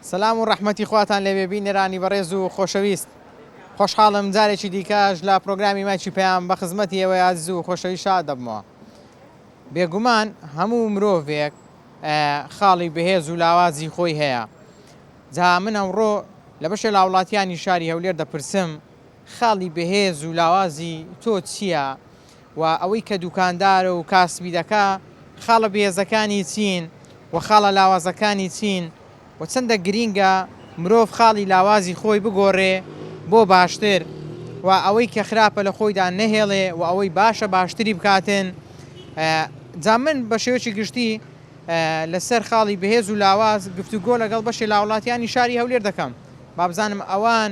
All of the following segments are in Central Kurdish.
سەلام و ڕەحمەتی خواتان لێبێ بینەرانی بەڕێز و خۆشەویست خۆشحاڵم جارێکی دیکەش لە پرۆگرامی مایکی پەیام بە خزمەتی ئێوەی ئازیز و خۆشەویست شاد دەبمەوە بێگومان هەموو مرۆڤێک خاڵی بەهێز و لاوازی خۆی هەیە جا من ئەمڕۆ لە بەشێ لاوڵاتیانی شاری هەولێر دەپرسم خاڵی بەهێز و لاوازی تۆ چییە؟ و ئەوەی کە دوکاندارە و کاسبی دەکا خاڵە بێزەکانی چین و خاڵە لاوازەکانی چین و چەندە گرینگە مرۆڤ خاڵی لاوازی خۆی بگۆڕێ بۆ باشتر و ئەوەی کە خراپە لە خۆیدا نەهێڵێ و ئەوەی باشە باشتری بکاتن جا من بە شێوەیەکی گشتی لە سەر خاڵی بەهێز و لاواز گفتوگۆ لەگەڵ بەشێ لاوڵاتیانی شاری هەولێر دەکەم بابزانم ئەوان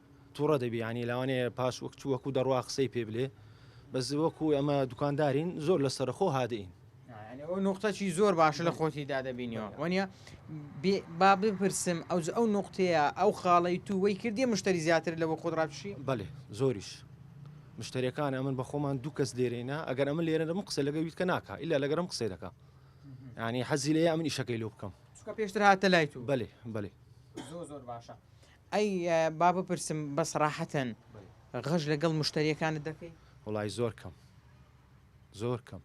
توڕە دەبی یانی لەوانێ پاش وەک چووەک و دەڕوا قسەی پێ بلێ بەس وەکو ئەمە دوکاندارین زۆر لە سەرخۆ هادەین نقطەی زۆر باشە لە خۆتی دادەبینیەوە وەنیە با بپرسم ئەو ئەو نقطەیە ئەو خاڵی تو وەی کردی مشتری زیاتر لەوە خۆراپشی بەێ زۆریش مشتریەکان ئەمن بە خۆمان دوو کەس لێرەینا ئەگەر ئەمە لێرە دەم قسە لەگە ویتکە ناکە ئللا لەگەرم قسەی دەکە ینی حەزی لێ ئەمن ئیشەکەی لۆ بکەم چکە پێشتر هاتە لای تو بەێ بەێ زۆر زۆر باشە ئەی با بپرسم بە سەراحەتەن غەش لەگەڵ مشتەریەکانت دەکەی؟ وەڵای زۆر کەم زۆر کەم.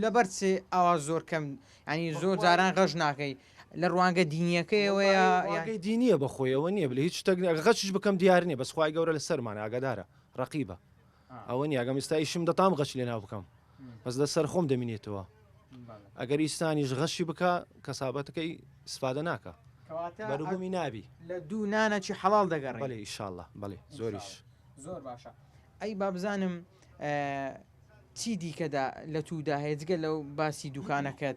لەبەر چ ئاوا زۆر کەم ینی زۆر جاران غەش ناکەی لە ڕوانگە دینیەکەیەوەیە یاگەی دینیە بەخۆیەوە نییە بلە هیچ شتێک غەچش بکەم دیار نیە بەسخوای گەورە لە سەرمانە ئاگادارە ڕقیبە. ئەوە نیە ئەگەم ئیستا ئیشم دە تام غەش لێنا بکەم بەس لە سەر خۆم دەمینێتەوە ئەگەر ئیسانیش غەشی بکە کەسابەتەکەی سفادە ناکە بەروبوومی نابی لە دوو نانەکی حەڵال دەگەڕێ بەێ ئیشاءله بەێ زۆریش زۆر باشە ئەی با بزانم چی دیکەدا لە توودا هەیەجگە لەو باسی دوکانەکەت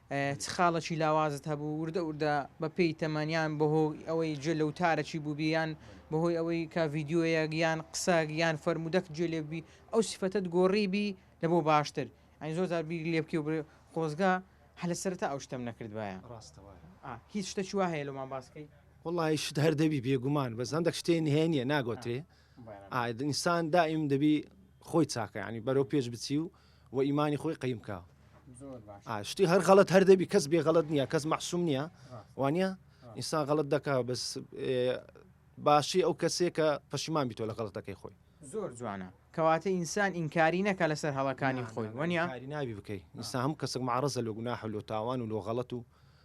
چ خاڵەکی لاوازت هەبوو؟ وردە وردە بە پێی تەمەن یان بەهۆی ئەوەی گوێ لە وتارەکی بووبی یان بەهۆی ئەوەی کە ڤیدیۆیەک یان قسەک یان فەرموودەک گوێ لێ بووبی ئەو سیفەتەت گۆڕیبی لە بۆ باشتر؟ یانی زۆر جار بیری لێ بکەی و بڵێ خۆزگە هەر لە سەرەتا ئەو شتەم نەکردبایە. ڕاستە وایە. ئا هیچ شتەکی وا هەیە لۆمان باس کەی؟ وەڵڵاهی شت هەر دەبی بێگومان بەس هەندەک شتێ نهێ نییە ناگۆترێ. ئا ئینسان دائیم دەبی خۆی چاکە یانی بەرەو پێش بچی و و ئیمانی خۆی قیم کا شتی هەر غەڵت هەر دەبی کەس بێ غەڵت نییە کەس مەحسوم نییە وانە ئینسان غەڵت دەکا بەس باشی ئەو کەسێک کە پەشیمان بیتۆ لە غەڵتەکەی خۆی زۆر جوانە کەواتە ئینسان ئینکاری نەکە لەسەر هەڵەکانی خۆی وەنیاری ناوی بکەیت ئینسان هەم کەسک معڕزە لە گوناح لۆ تاوان و لۆ غەڵت و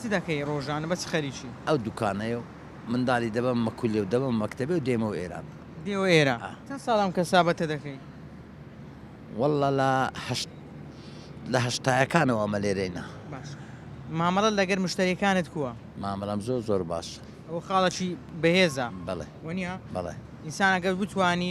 چ دەکەی ڕۆژانە بە چ خەریکی. ئەو دوکانەیە و مندالی دەبەمە مەکولێ و دەبەمە مەکتەبێ و دێمەوە ئێران. دێوە ئێران ئا. چەند ساڵە ئەم کەسابەتە دەکەی؟ وەڵڵا لە هەشت لە هەشتایەکانەوە ئەمە لێرەینە. باشە مامەڵەت لەگەر مشتەریەکانت کووە؟ مامەڵەم زۆر زۆر باشە. ئەوە خاڵەکی بەهێزە. بەڵێ. وەنیە؟ بەڵێ. ئینسان ئەگەر بتوانی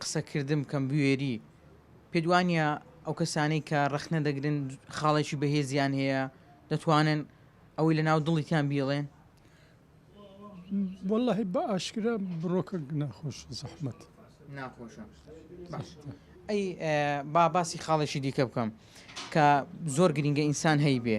قسە کردن بکەم بوێری پێت وانیە ئەو کەسانەی کە ڕەخنە دەگرن خاڵێکی بەهێزیان هەیە دەتوانن ئەوەی لە ناو دڵیتان بیڵێن واللهی بە ئاشکرا بڕۆکە ناخۆش زەحمت ناخۆشە ئەی با باسی خاڵێکی دیکە بکەم کە زۆر گرینگە ئینسان هەی بێ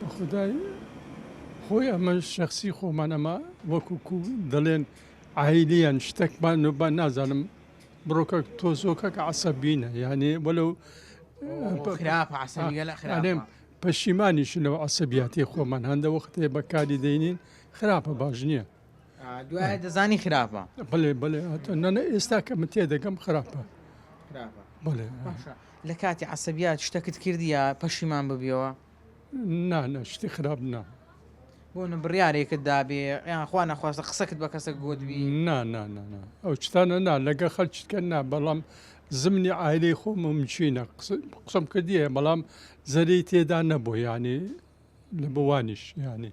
بەخودای خۆی ئەمە شەخسی خۆمان ئەمە وەکو کو دەڵێن عیلیەن شتەکمان نوبان نازانم بڕۆکە تۆزۆکە کە عسەبینە یانێ وەلو خراپم پەشیمانیش لەو عسەبیاتی خۆمان هەندە وەختێ بەکاری دەینین خراپە باش نییە. دوای دەزانی خراپە بڵێ بڵێ نەە ئێستا کە من تێدەگەم خراپە لە کاتی عسەبیات شتەکت کردیە پەشیمان ببیەوە نانە شتی خراپ نا بۆ نە بڕارێکت دابێ یان خوا نەخواستە قسەکت بە کەسە گوتبی نا نا نا ئەو شتانە نا لەگە خەلچکە نا بەڵام زمنی ئایلەی خۆم مچینە قسم کردیە بەڵام زەری تێدا نەبوو ینی لە بوانیش ینی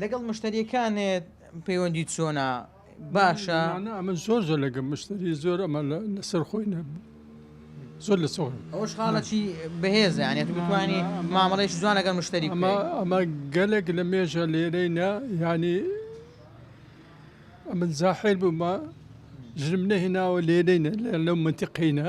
لەگەڵ مشتەریەکانت پەیوەندی چۆنە باشە؟ نا ئەمە زۆر زۆر لەگە مشتری زۆر ئەمە لەسەر خۆی نە زۆر لە سۆر ئەوش خاڵەکی بەهێزە یانە بتوانانی مامەڵێش جوان لەگەڵ مشتری ئەمە گەلێک لە مێژە لێرەی نە ینی ئەمن زاحێر بوومە ژرم نەهێناوە لێرەینە لەو منتیقینە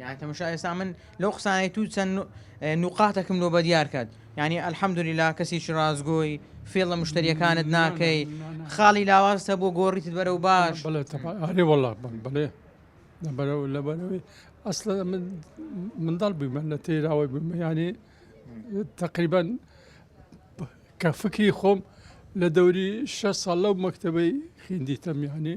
یان تەمەشا ئێستا من لەو قسانەی تو چەند نوقاتەکم لۆ بە دیار کرد یعنی ئەلحەمدوریلا کەسیی ڕازگۆی فێڵە مشتریەکانت ناکەی خاڵی لاوازتە بۆ گۆڕیت بەرە و باش ئەێ وڵا بڵێ بەرەوە لە بەرەوەی ئەسلە من منداڵ بوومە لە تێراوەی بوومە ینی تقریبان کە فکری خۆم لە دەوری شە ساڵ لەو مەکتتەبەی خیندی تەمیانی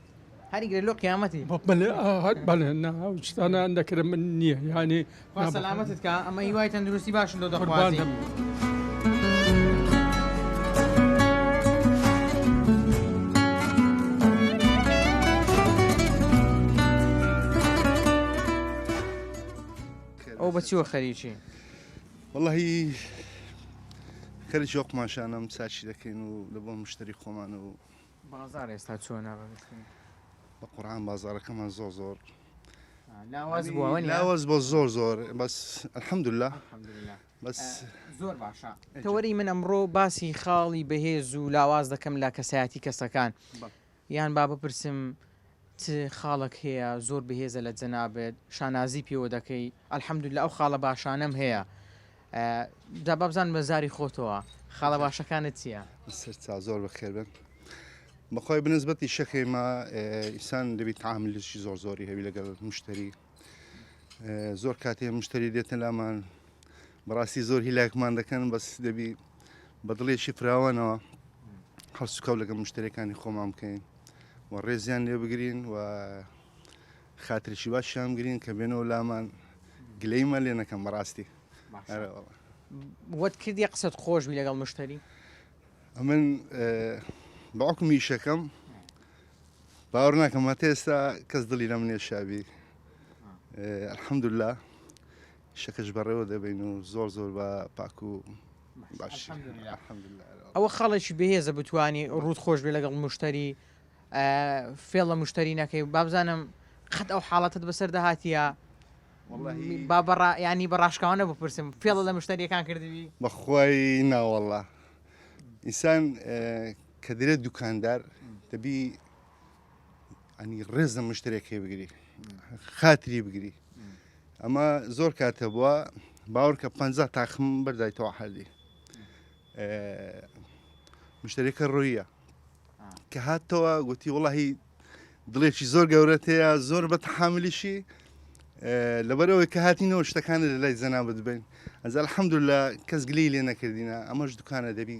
هەری گرە لۆ قیامەتی بەلێناوچستانە دەکرم من نییە یانی سەلامەتت کا ئەمە هیوای تەندروستی باشن لۆ دەخوازم. ئەو بەچیوە خەریکی وڵی خەری جۆقماشانم ساچی دەکەین و لە بۆ مشتری خۆمان و بازار ئێستا چۆنە بەگشتی؟ بە قورعان بازاڕەکەمان زۆر زۆر لاواز بووە وەنیە؟ لاواز بۆ زۆر زۆر بەس الحمدللە الحمدللە بەس زۆر باشە تەوەری من ئەمڕۆ باسی خاڵی بەهێز و لاواز دەکەم لە کەسایەتی کەسەکان یان با بپرسم چ خاڵەک هەیە زۆر بەهێزە لە جەنابت شانازی پێوە دەکەی؟ الحمدللە ئەو خاڵە باشانەم هەیە جا با بزانم لە زاری خۆتەوە خاڵە باشەکانت چییە؟ سەر چا زۆر بەخێر بن بەخوای بنسبەتی شەکەی ما ئیسان دەبی تعاملشی زۆر زۆری هەوی لەگەڵ مشتری زۆر کاتێ مشتری دێتە لامان بەڕاستی زۆر هیلاکمان دەکەن بەس دەبی بە دڵێکی فراوانەوە هەڵسوکەوت لەگە مشتەکانی خۆمان بکەین و ڕێزیان لێ بگرین و خاترشی باشیان گرین کە بێنەوە لامان گلەیمە لێ نەکەم بەڕاستی وەت کردی قسەت خۆش بی لەگەڵ مشتری ئەمن باوکم میشەکەم باوەڕ ناکەم هەتا ئێستا کەس دڵی لەم نێشابی الحەمدللا شەکەش بەڕێوە دەبین و زۆر زۆر بە پاک و باش ئەوە خەڵێکی بەهێزە بتانی ڕوت خۆش بێ لەگەڵ مشتری فێڵ لە مشتری نەکەی بابزانم قەت ئەو حاڵەتت بەسەر دەهاتە با بەڕا ینی بەڕاشکاوانە بپرسم فێڵە لە مشتریەکان کردوی بەخوای ناوەڵە ئینسان کە دەێت دوکاندار دەبی ئەنی ڕێزە مشتێکی بگری خاتری بگری ئەمە زۆر کاتە بووە باوەڕکە پ تاخم بەردایتەوە حردی مشتێکە ڕویە کە هاتەوە گوتی وڵی دڵێکی زۆر گەورەت هەیە زۆر بە تحاملیشی لەبەرەوەی کە هاتینەوە شتەکانە لە لای زەنا بدبین ئەزال حەمدو لە کەس گلی لێ نەکردینە ئەمەش دوکانە دەبی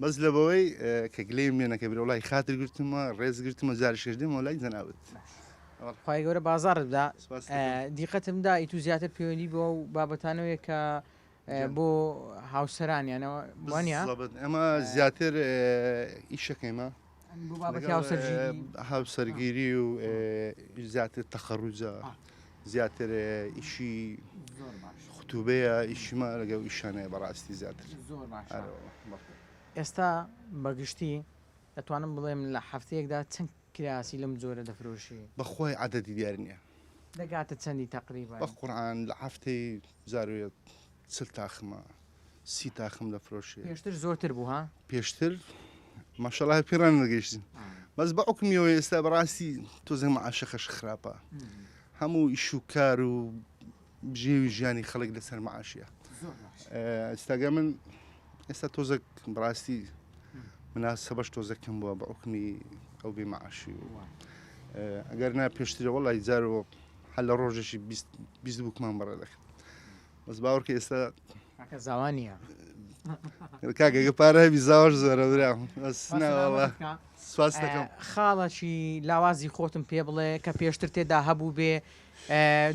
بەس لەبەوەی کە گلەیم لێ نەکەی برا وڵی خاتر گرتمە ڕێز گرتمە جاریش کەش دێمەوە لای جەنابت خی گەورە بازاڕت بدا دیقەتم دا ئیتو زیاتر پەیوەندی بۆ و بابەتانەوەیە کە بۆ هاوسەرانیانەوە وانە ئەمە زیاتر ئیشەکەیمە هاوسەرگیری و زیاتر تەخەڕوجە زیاتر ئیشی خوتوبەیە ئیشیمە لەگەڵ ئیشانەیە بەڕاستی زیاتر ئێستا بەگشتی دەتوانم بڵێم لە هەفتەیەکدا چەند کراسی لەم جۆرە دەفرۆشی بەخوای عادەتی دیار نییە دەگاتە چەندی تەقریبا بە قورآان لە هەفتەی جارێت چل تاخمە سی تاخم دەفرۆشێ پێشتر زۆرتر بوو ها پێشتر ماشەڵا هەر پێڕان نەگەیشتین بەس بە عکمیەوە ئێستا بەڕاستی تۆزم عاشەخەش خراپە هەموو ئیشوکار و بژێوی ژیانی خەڵک لەسەر معاشە ئێستاگە من ئێستا تۆزەک بڕاستی مناسە بەش تۆزەکەم بووە بە عکمی ئەو بێ معاشی و ئەگەر نا پێشترەوە لای جارەوە هەل لە ڕۆژێکی بیست بووکمان بەڕێ دەکرد بەس باوەڕکە ئێستا زاوا نییە کاکەگە پارە هەبی زاواش زۆرە برام سواس دەکەم خاڵەکی لاوازی خۆتم پێ بڵێ کە پێشتر تێدا هەبوو بێ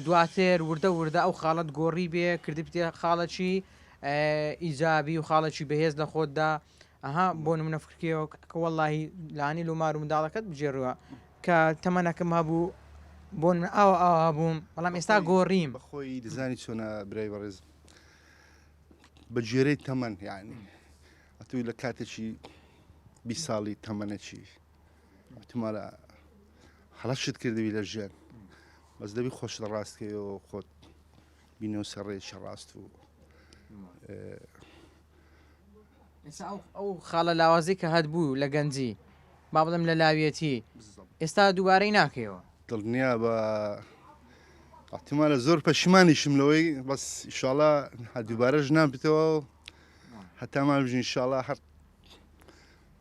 دواتر وردە وردە ئەو خاڵت گۆڕی بێ کردی پێ خاڵەکی ئیجابی و خاڵەکی بەهێز لە خۆتدا ئەها بۆ نمونە فکرکەوە کە وەڵی لانی لومار و منداڵەکەت بجێڕوە کە تەمەەکەم هەبوو بۆ من ئاوا ئاوا بووم بەڵام ئێستا گۆڕیم بەخۆی دەزانی چۆنە برای بەڕێز بە گوێرەی تەمەەن یعنی ئەتوی لە کاتێکی بی ساڵی تەمەەکی ئەتمالە هەڵەشت کردوی لە ژێن بەس دەبی خۆش لە ڕاستکەوە خۆت بینەوە سەڕێکی ڕاست و ئەو خاڵە لاوازەی کە هەتبوو لە گەنجی با بڵێم لە لاویەتی ئێستا دووبارەی ناکەیەوە دڵنیا بە ئەحتیمالە زۆر پەشیمانیشم لەوەی بەس ئیشاڵا هە دووبارەش نابێتەوە هەتامان بژین شاڵا هەر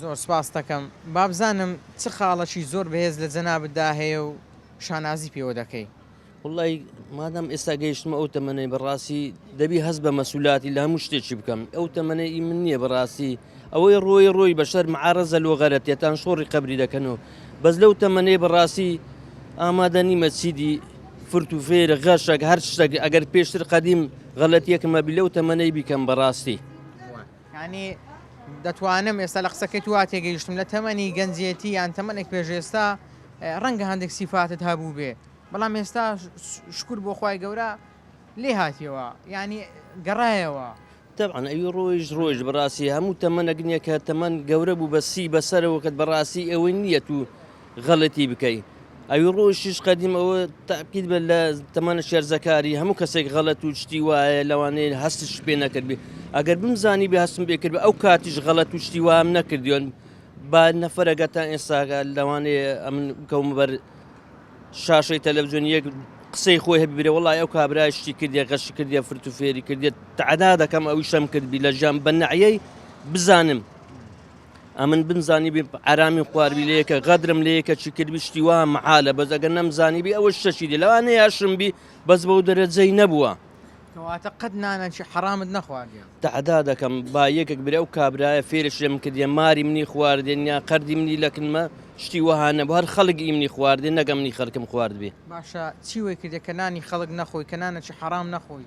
زۆر سپاستەکەم بابزانم چ خاڵەکی زۆر بەهێز لە جەنابتدا هەیە و شانازی پێوە دەکەی. وەڵڵای مادام ئێستا گەیشتمە ئەو تەمەنەی بەڕاستی دەبی هەست بە مەسولاتی لە هەموو شتێکی بکەم ئەو تەمەنە ئی من نییە بەڕاستی ئەوەی ڕۆی ڕۆی بەشەر معارەزە لۆ غەرەتێتان شۆڕی قبری دەکەن و بەس لەو تەمەنەی بەڕاستی ئامادە نیمە چیدی فرت و فێر غەشەک هەر شتێک ئەگەر پێشتر قەدیم غەلەتیەکمە بی لەو تەمەنەی بیکەم بەڕاستی یانی دەتوانم ئێستا لە قسەکەت وا تێگەیشتم لە تەمەنی گەنجێتی یان تەمەنێک پێش ئێستا ڕەنگە هەندێک سیفاتت هەبووبێ بەڵام ئێستا شکور بۆ خوای گەورە لێ هاتیەوە یانی گەڕایەوە تەبعەن ئەوی ڕۆیشت ڕۆیشت بەڕاستی هەموو تەمەنەک نییە کە تەمەن گەورە بوو بە سی بەسەرەوە کەت بەڕاستی ئەوەی نییە و غەلەتی بکەی ئەوی ڕۆژ شیش قەدیم ئەوە تاکید بە لە تەمانە شێرزەکاری هەموو کەسێک غەلەت و شتی وایە لەوانەیە هەستش پێ نەکردبی ئەگەر بمزانی بێ هەستم بێکرد ئەو کاتیش غەلەت و شتی وام نەکردیۆن با نەفرەگە تا ئێستاگە لەوانەیە ئەمن کەوم بەر شاشەی تەلەڤزیۆن یەک قسەی خۆی هەبیرە وڵای ئەو کابرای شتی کردێ غەش کردێ فرت و فێری کردێت تعدا دەکەم ئەوی شەم کردبی لە ژیان بە نەعەی بزانم ئەمن بمزانی بێ ئارامی خواروی لەیەکە غەدرم لە یەکە چی کردبی شتی وا محالە بەس ئەگەر نەمزانی بی ئەوە شەشی دی لەوانە یاشم بی بەس بەو دەرەجەی نەبووە کەواتە قەت نانەکی حەرامت نەخواردێ تەعدا دەکەم با یەکێک برێ و کابرایە فێرش لێم کردە ماری منی خواردێن یا قەردی منی لەکنمە شتی وەهانە بە هەر خەڵک ئیمنی خواردێ نەگەمنی خەرکم خواردبێ باشە چی وەی کردێ کە نانی خەڵک نەخۆی کە نانەکی حەرام نەخۆی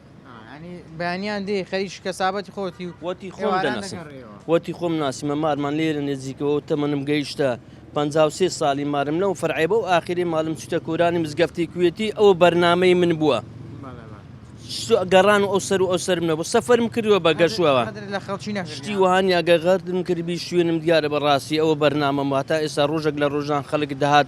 وتی خۆم دەناسم وتی خۆم ناسیمە مارمان لێرە نێزیکەوە و تەمەنم گەیشتە پەنجا و سێ ساڵی مارم لەو فەرعەی بەو ئاخیری مالم چوتە کۆرانی مزگەفتی کوێتی ئەوە بەرنامەی من بووە گەڕان و ئەو سەر و ئەو سەرم نەبوو سەفەرم کردووە بە گەشوەوە شتی وهانی ئەگەر غەردم کردبی شوێنم دیارە بەڕاستی ئەوە بەرنامەم واتا ئێستا ڕۆژێک لە ڕۆژان خەڵک دەهات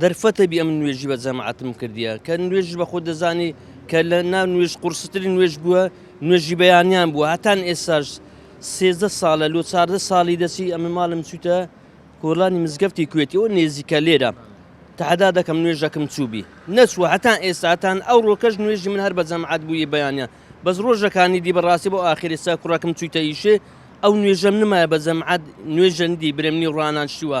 دەرفەتە بی ئەمن نوێژی بە جەماعەتم کردیە کە نوێژی بە خۆ دەزانی کە لە ناو نوێژ قورستری نوێژ بووە نوێژی بەیانیان بووە هەتان ئێساش سێزدە ساڵە لۆ چاردە ساڵی دەچی ئەمە ماڵم چوتە کۆڵانی مزگەفتی کوێتی ئەو نێزیکە لێرە تەحدا دەکەم نوێژەکەم چوبی نەچوە هەتان ئێستاتان ئەو ڕۆکەش نوێژی من هەر بە جەماعات بووی بەیانە بەس ڕۆژەکانی دی بەڕاستی بۆ ئاخری سا کوڕەکەم چویتە ئیشێ ئەو نوێژەم نمایە بە جەماعات نوێژەندی برێمنی ڕانان شیوە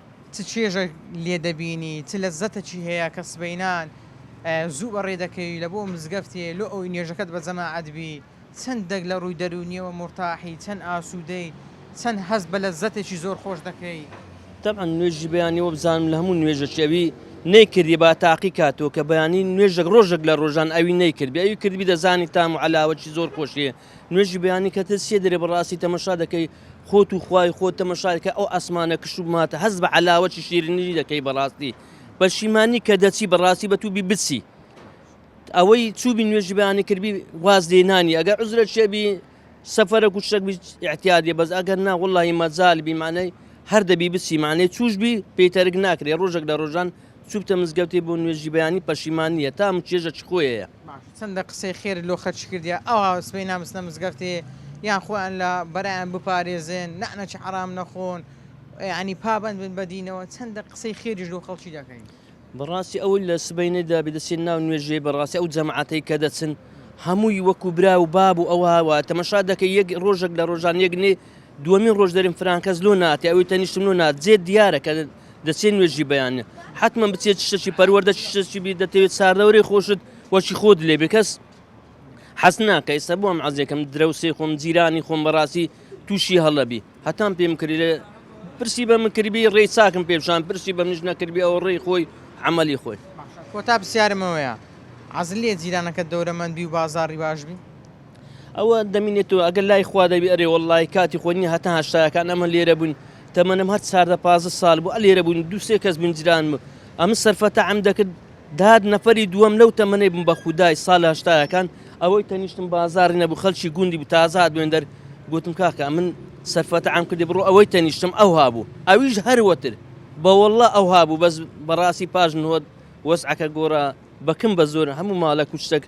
چ چێژێک لێ دەبینی چ لەزەتەکی هەیە کە سبەینان زوو بەڕێ دەکەوی لە بۆ مزگەفتێ لۆ ئەوەی نوێژەکەت بە جەماعەت بی چەند دەگ لە ڕووی دەروونیەوە مورتاحی چەند ئاسوودەی چەند هەست بە لەزەتێکی زۆر خۆش دەکەی. تەبعەن نوێژی بەیانی وەبزانم لە هەموو نوێژەکی ئەوی نەیکردی با تاقی کاتەوە کە بەیانی نوێژێک ڕۆژێک لە ڕۆژان ئەوی نەیکردبی ئەوی کردبی دەزانی تام و عەلاوەکی زۆر خۆشی نوێژی بەیانی کەتت سێ دەرێ بەڕاستی تەمەشا دەکەی خۆت و خوای خۆت تەمەشایکە ئەو ئاسمانە کشت و ماتە هەست بە علاوەی شیرنی دەکەی بەڕاستی پەشیمانی کە دەچی بەڕاستی بە تووبی بچی ئەوەی چوبی نوێژی بەیانی کردبی واز لێنانی ئەگەر عزرە شێبی سەفرە کوشتەک احتیادێ بەس ئەگەر نا وڵی مەزال بیمانەی هەر دەبی بچی مانەی چوش بی پێی تەرک ناکرێ ڕۆژێک لە ڕۆژان چوبتە مزگەوتێ بۆ نوێژی بەیانی پەشیمان نیە تام و چێژە چ خۆێەیە. چەندە قسەی خێرت لۆ خەرچ کردیە ئەوها سبەی نامستنە مزگەفتێ یان خۆیان لە بەرایان بپارێزێن نەعنە چ حەرام نەخۆن یانی پابەند بن بە دینەوە چەندە قسەی خێریش لۆ خەڵکی دەکەین. بەڕاستی ئەوەی لە سبەینێدا بێدەچێت ناو نوێژێ بەڕاستی ئەو جەماعەتەی کە دەچن هەمووی وەکو برا و باب و ئەوها وایە تەمەشا دەکەی یەک ڕۆژەک لە ڕۆژان یەک نێ دوەمین ڕۆژ دەریم فرانکەس لۆ ناتی ئەوی تەنیشتم لۆ نات جێت دیارە کە دەچێت نوێژی بەیان حتممە بچێت شتەکی پەروەەردە شتەکی بی دەتەوێت ساردەورەی خۆشت وەکی خۆت لێ بکەس حەز ناکە ئێستا بۆم عزیێکم درەوسی خۆم جیرانی خۆم بەڕاستی تووشی هەڵەبی هەتان پێم کرد لێ پرسی بە من کردبی ڕێی چاکم پێشان پرسی بە منش نەکردبی ئەو ڕێی خۆی عملی خۆی کۆتا پرسیارمەوەیە عزل لێ جیرانەکە دەورەمەندی و بازاری باشبی ئەوە دەمینێتەوە ئەگەر لای خوا دەبی ئەرێ وەڵی کاتی خۆ نیە هەتا هەشتاکان ئەمە لێرە بووین تەمەنم هەر چاردە پازە سال بوو ئە لێرە بووین دووسێ کەس بنجران بوو ئەمە سەرفەتە ئەم دەکرد داد نەفەری دووەم لەو تەمەەی بم بە خودای سال هەشتاکان ئەوەی تەنیشتم بازاری نەبوو خەلکی گوندی بوو تازات بێندەر گوتم کاکە من سەرفەتە ئەم کردی بڕۆ ئەوەی تەنیشتم ئەو هابوو ئەویش هەروەتر بەوەله ئەو هابوو بەس بەڕاستی پاش نهۆت وەسعەکە گۆرە بەکم بە زۆر هەموو ماڵە کوچتەکە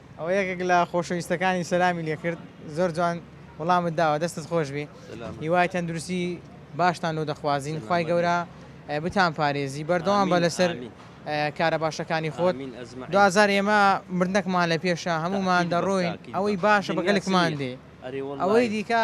ئەوە یەکێک لە خۆشەویستەکانی سەلامی لێکرد زۆر جوان وڵامت داوە دەستت خۆشبی هیوای تەندروستی باشتان لۆ دەخوازین خی گەورە بتان پارێزی بەردەوام بە لەسەر کارە باشەکانی خۆت دوزار ئێمە مردنەکمان لە پێشە هەمومان دەڕۆین ئەوەی باشە بەگەلکمان دێ ئەوەی دیکە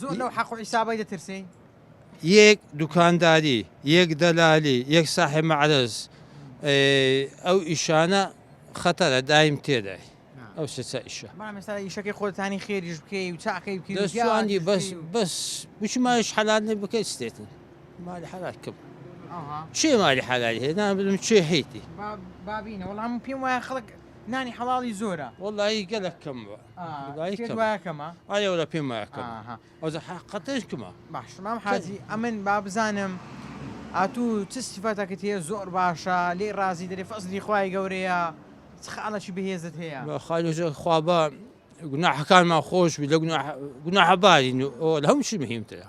زۆر لەو حەق و حیسابەی دەترسین یەک دوکانداری یەک دەلالی یەک ساحێ مەعرز ئەو ئیشانە خەتەرە دایم تێدای ئەو سێسا ئیشە ئیشەکەی خۆتانی خێریش بکەی و چاقی بکەیدی بەس بەس بچمایش حەلانێ بکەیت ستێتن مالی حەلات کەم چێ مالی حەلال هێنا بدم چێ حیتی بابینە وەڵام پێم وایە خەڵک نانی حەڵی زۆرە وەڵی گەلەکەم بە دوایی کەمە دوایە کەمە ئایا ولا پێم وایە کەمە ئاها. ئەوجا حەقەتەش کەمە باش مام حاجی ئەمن با بزانم ئاتوو چ سیفەتەکت هەیە زۆر باشە لێی ڕازی دەرێ فەزلی خوای گەورەیە چ خاڵەکی بەهێزت هەیە بە خالی ژە خوا بە گوناحەکانمان خۆش بی لە گوناح گوناحە بارین و ئەوە لە هەموو شی مهمترە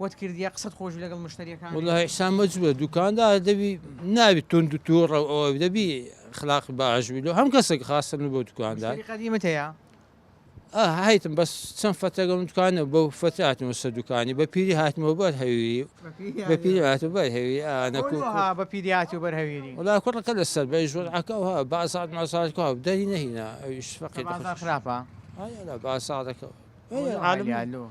وت کردیە قسەت خۆشبی لەگەڵ مشتەریەکان. وەڵا ئیحسان مەجبوە دوکاندار دەبی نابی توند و توڕە و ئەوە دەبی خلاق باش بی لۆ هەم کەسێک خاستە من بۆ دوکاندار قەدیمت هەیە هایتم بەس چەند فەتەگەم دوکانە بەو فەتی هاتمەوە سە دوکانی بە پیری هاتمەوە بەر هەویری بە پیری هات و بەر هەوی ئەکو بە پیری هاتی و بەر هەویری وڵا کوڕەکە لە سەر بە ژۆر عکەوە بازات مازارکە و دەری نەهینا ئەویش فەقی خراپە بازارەکە عالم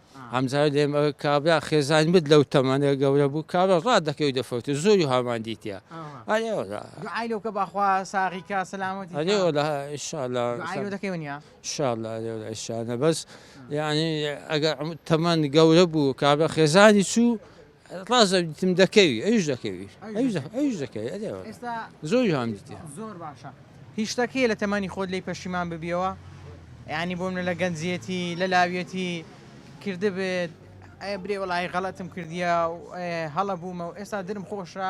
هەمزانی دەم ئەگەر کابرا خێزانی بێت لەو تەمەنە گەورە بوو کابرا ڕات دەکەی و دەفەوتێ زۆری هامان دیتیە ئەرێ وەڵا دوعای لۆ کە باخوا ساغی کا سەلامەتی ئەرێ وەڵا ئیشاڵا دوعای لۆ دەکەی ونیا ئیشاڵا ئەرێ وەڵا ئیشاڵا بەس یانی ئەگەر تەمەن گەورە بوو کابرا خێزانی چوو ڕاست دەبیتم دەکەوی ئەویش دەکەوی ئەویش دەکەوی ئەویش دەکەوی ئەدێ وەڵا ئێستا زۆر جوان دیتە زۆر باشە هی شتەک هەیە لە تەمەنی خۆت لێی پەشیمان ببیەوە یانی بۆ منە لە گەنجیەتی لە لاویەتی کردبێت ئەی برێ وەڵای غەڵەتم کردیە و ئێ هەڵە بوومە و ئێستا درم خۆشە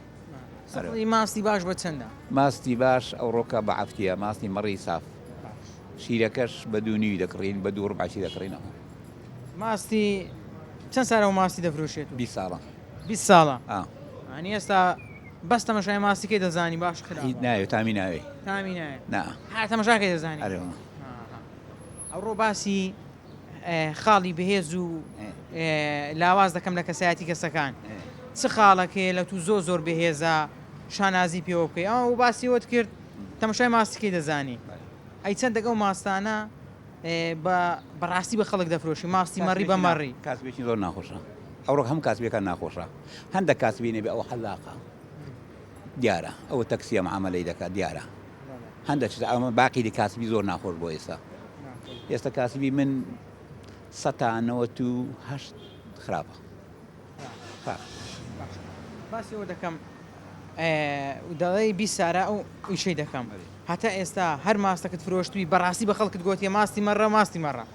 سفری ماستی باش بە چەندە؟ ماستی باش ئەوڕۆکە بە عەفتیە ماستی مەڕی ساف شیرەکەش بە دوو نیوی دەکڕین بە دوو ڕبعشی دەکڕینەوە ماستی چەند سارەوە ماستی دەفرۆشێت بی ساڵە بی ساڵە ئەنی ئێستا بەس تەمەشای ماستیکەی دەزانی باش خرا ناوێت تامی ناوێ تامی نایە نا هاتەمەشاکەی دەزانی ئەوڕۆ باسی خاڵی بەهێز و لاواز دەکەم لە کەسایەتی کەسەکان چ خاڵەک هەیە لە تو زۆر زۆر بەهێزە شانازی پێوە بکەی ئەو باسی وت کرد تەمەشای ماستەکەی دەزانی ئەی چەندێک ئەو ماستانە بە بەڕاستی بە خەڵک دەفرۆشی ماستی مەڕی بە مەڕی کاسبێکی زۆر ناخۆشە ئەوڕۆک هەم کاسبیەکان ناخۆشە هەندە کاسبینێ بێ ئەو حەلاقە دیارە ئەو تەکسیە عملی دەکات دیارە هەندەک شتە ئەمە باقیری کاسبی زۆر ناخۆش بۆ ئێستا ئێستا کاسبی من سەتا نەوەت و هەشت خراپە باسیەوە دەکەم دەڵی بی سارا و ئیشەی دەکەم هەتا ئێستا هەر ماستەکەت فرۆشتوی بەڕاستی بە خەڵکت گوتیە ماستی مەڕە ماستی مەڕە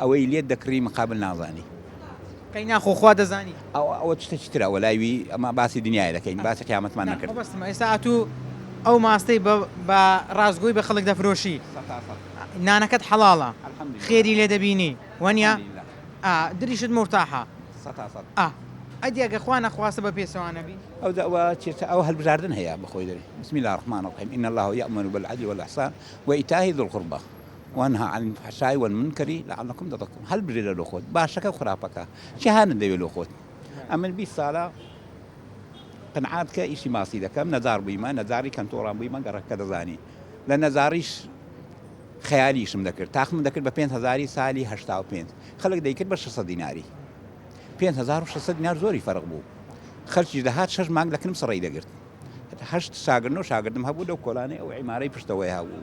ئەوەی لێت دەکڕی مقابل نازانی. قەی ناخۆ خوا دەزانی. ئەوە ئەوە چتەکی ترە وەلای وی ئەمە باسی دنیایە دەکەین باسی قیامەتمان نەکرد. مەبەستمە ئێستا ئەتوو ئەو ماستەی بە بە ڕاستگۆی بە خەڵک دەفرۆشی سەتا سەد نانەکەت حەڵاڵە الحمدللە خێری لێ دەبینی وەنیە الحمدللە ئا دریشت مورتاحە سەتا سەد ئا ئەدی ئەگە خوا نەخواستە بە پێچەوا نەبی. ئەو دەوا چێتە ئەو هەلبژاردن هەیە بەخۆی دەرێ بسم اللە الرحمن الرحیم ان اللە یامر بالعدل والاحسان وایتاء ذی القربی. وانها عن الفحشاء والمنکر لعلکم تتقون هەلبژێرە لۆ خۆت باشەکە و خراپەکە چی هانت دەوێ لۆ خۆت ئەمن بیست سالە قنعات کە ئیشی ماسی دەکەم نەزار بوویمە نەزاری کەنتۆڕان بوویمە گەڕەکەکە دەزانی لە نەزاریش خەیالیشم دەکرد تاخم دەکرد بە 5 هزاری سالی هشتا و پێنج خەڵک دەیکرد بە 600 دیناری 5600 دینار زۆری فەرق بوو خەرچیش دەهات شش مانگ لەکنم سڕی دەگرت هەشت شاگرن و شاگردم هەبوو لەو کۆلانەی ئەو عیمارەی پشتەوەی هەبوو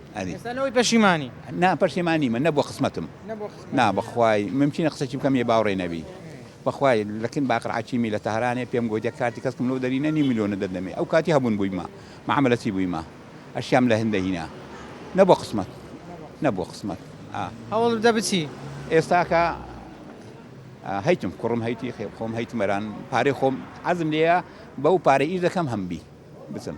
ئێستا لەوەی پەشیمانی؟ نا پەشیمان نیمە نەبووە قسمەتم نا بەخوای ممکینە قسەکی بکەم یێ باوڕێ نەبی بەخوای لەکن باقر عەکیمی لە تەهرانێ پێم گۆت یە کارتی کەسکم لۆ دەرینە نیو ملیۆنە دەدەمێ ئەو کاتی هەبوون بوویمە مەعامەلەتی بوویمە ئەشیام لە هند دەهینا نەبووە قسمەت نەبووە قسمەت ئا هەوڵ بدە بچی ئێستاکە هەیتم کوڕم هەیتی خێ خۆم هەیتمەران پارەی خۆم عەزم لێیە بەو پارە ئیش دەکەم هەمبی بچم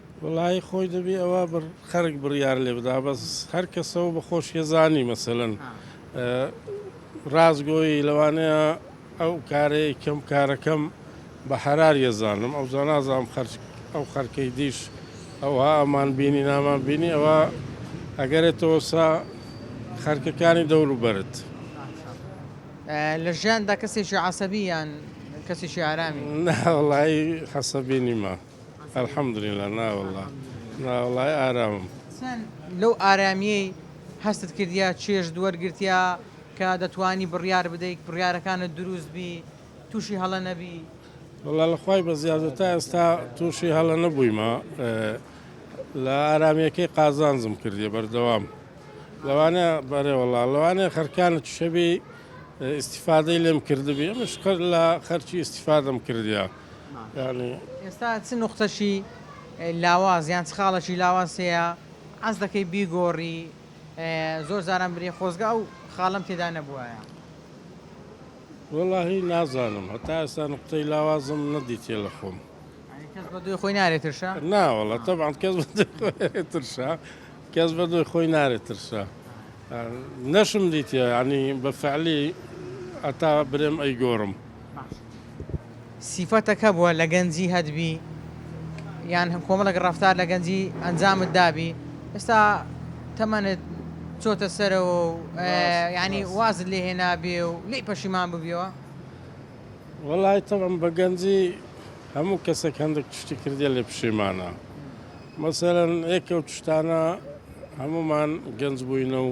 وەڵایی خۆی دەبی ئەوە بڕ خەرک بڕیار لێ بدا بەس هەر کەسەوە بە خۆشیە زانی مەسەلەن ڕاستگۆی لەوانەیە ئەو کارەیە کەم کارەکەم بە حەراریە زانم ئەو زانازانم خەرج ئەو خەرکەی دیش ئەوها ئەمان بینی نامان بینی ئەوە ئەگەرێتەوە سا خەرکەکانی دەورو بەرت لە ژیاندا کەسێکی عسەبی یان کەسێکی ئارامی ناوەڵایی حەسەبی نیمە. الحمدللە ناوەڵا ناوەڵای ئارامم. چەن لەو ئارامیەی هەستت کردیە چێژت وەرگرتیە کە دەتوانی بڕیار بدەیت بڕیارەکانت دروست بی توشی هەڵە نەبی؟ وەڵا لە خوای بەزیادە تا ئێستا تووشی هەڵە نەبوویمە لە ئارامیەکەی قازانجم کردی بەردەوام لەوانە بەرێ وەڵا لەوانێ خەرکانت شەبی ئیسیفادەی لێم کردبی ئەمش لە خەرکی ئیسیفادەم کردیا ئێستا چ نوقتەکی لاواز یان چ خاڵەکی لاواز هەیە حەز دەکەی بیگۆڕی زۆر جاران برێ خۆزگە ئەو خاڵم تێدا نەبووایە وەڵاهی نازانم هەتا ئێستا نقطەی لاوازم نەدیتێ لە خۆم کەس بە دوێ خۆی نارێت ترشا ناوەڵە تەبان کەس ترشا کەس بە دوێ خۆی نارێت ترشا نەشم دیتە ینی بە فعلی ئەتا برێم ئەی گۆڕم سیفەتە کە بوە لە گەنجی هەت بی یان کۆمەڵێک ڕەفتار لە گەنجی ئەنجامت دابی ئێستا تەمەنت چۆتە سەرەوە و ینی وازت لێ هێنابێ و لی پەشیمان ببیەوە وڵی تەڵم بە گەنجی هەموو کەسێک هەندێک شتی کردێ لێ پشیمانە مەسەرەن ئێکە و شتانە هەمومان گەنج بووینە و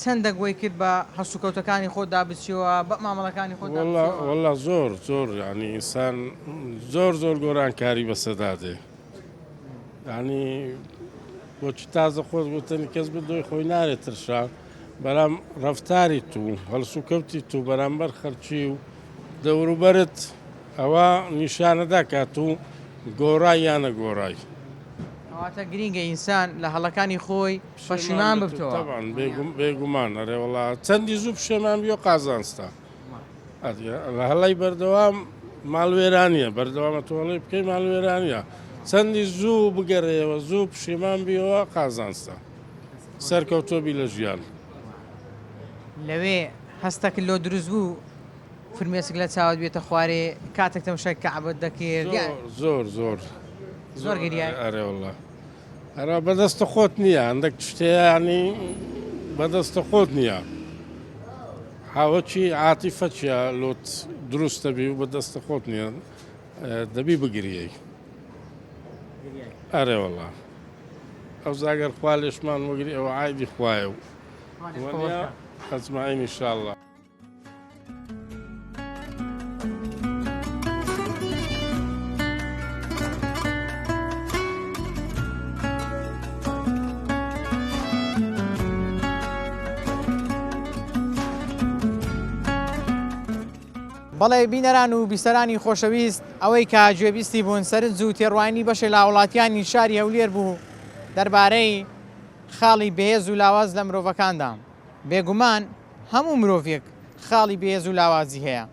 چەندەک وەی کرد بە هەڵسوکەوتەکانی خۆت دا بچیەوە بە مامەڵەکانی خۆت دا بچیەوە. وەڵا زۆر زۆر یانی ئینسان زۆر زۆر گۆرانکاری بەسە دا دێ یانی بۆچی تازە خۆت گوتنی کەس بدۆی خۆی نارێت ترشا بەرام ڕفتاری تو هەڵسوکەوتی تو بەرامبەر خەرچی و دەوروبەرت ئەوە نیشانەدا کات و گۆڕای یانە گۆڕای. ئەواتە گرینگە ئینسان لە هەڵەکانی خۆی. پەشیمان ببتەوە. تەبعەن بێگوم بێگومان ئەرێ وەڵا چەندی زوو پشێمان بیۆ قازانجتە ئەدگە لە هەڵی بەردەوام ماڵوێرانیە بەردەوامە تۆڵی بکەی ماڵوێرانە چەندی زوو بگەرەوە زوو پشیمان بیەوە قازانجتە سەرکەوتۆبی لە ژیان لەوێ هەستەک لۆ دروست بوو فرمێسک لە چاوت بێتە خوارێ کاتێک تەمشای کەعبەت دەکرد زۆر زۆر زۆر زۆر گریای. ئەرێ وەڵا ئەرا بەدەستە خۆت نییە هەندێک شتێیانی بەدەستە خۆت نییە حاوەکی عاتیفە چیە لۆت دروستە بی و بەدەستە خۆت نییە دەبی بگریەی ئەرێ وڵا ئەو زاگەر خوا لێشمان وەگری ئەوە عیدی خوایە و ئەزماین انشاءاللە بەڵێ بینەران و بیسەرانی خۆشەویست ئەوەی کە گوێبیستی بوون سەرنج و تێڕوانی بەشێ لا وڵاتیانی شاری هەولێر بوو دەربارەی خاڵی بەهێز و لاواز لە مرۆڤەکاندا بێگومان هەموو مرۆڤێک خاڵی بێهێز و لاوازی هەیە،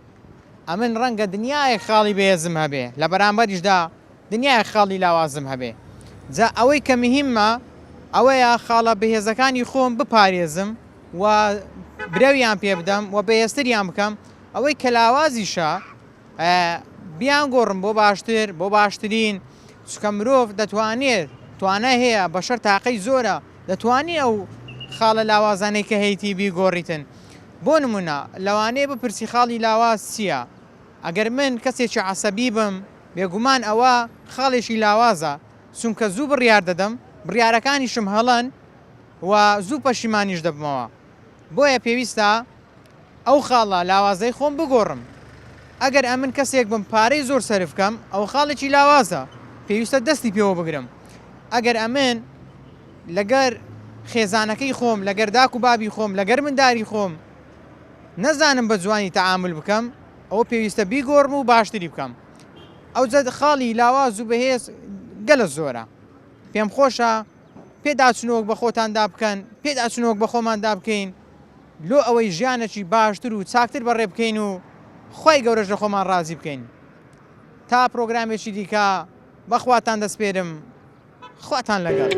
ئەمن ڕەنگە دنیایەک خاڵی بێهێزم هەبێ، لە بەرامبەریشدا دنیایەک خاڵی لاوازم هەبێ، جا ئەوەی کە مهیممە ئەوەیە خاڵە بێهێزەکانی خۆم بپارێزم و برەویان پێبدەم و بەهێزتریان بکەم، ئەوەی کە لاوازیشە، بیان گۆڕن بۆ باشتر بۆ باشترین چکە مرۆڤ دەتوانێت توانای هەیە بەشەر تاقەی زۆرە دەتوانی ئەو خاڵە لاوازانەی کە هەیتی بیگۆڕیتن بۆ نمونە لەوانەیە بپرسی خاڵی لاواز چییە ئەگەر من کەسێکی عەسەبی بم بێگومان ئەوە خاڵێکی لاوازە چونکە زوو بڕیار دەدەم بڕیارەکانیشم هەڵەن و زوو پەشیمانیش دەبمەوە بۆیە پێویستە ئەو خاڵە لاوازەی خۆم بگۆڕم، ئەگەر ئەمن کەسێک بم پارەی زۆر سەرف کەم ئەوە خاڵێکی لاوازە پێویستە دەستی پێوە بگرم، ئەگەر ئەمن لەگەر خێزانەکەی خۆم لەگەر داک و بابی خۆم لەگەر منداری خۆم نەزانم بە جوانی تەعامول بکەم ئەوە پێویستە بیگۆڕم و باشتری بکەم ئەوجە خاڵی لاواز و بەهێز گەلە زۆرە پێم خۆشە پێداچونەوەک بە خۆتاندا بکەن، پێداچونەوەک بە خۆماندا بکەین لۆ ئەوەی ژیانەکی باشتر و چاکتر بەڕێ بکەین و خوای گەورەش لە خۆمان ڕازی بکەین. تا پرۆگرامێکی دیکە بە خواتان دەسپێرم. خواتان لەگەڵ.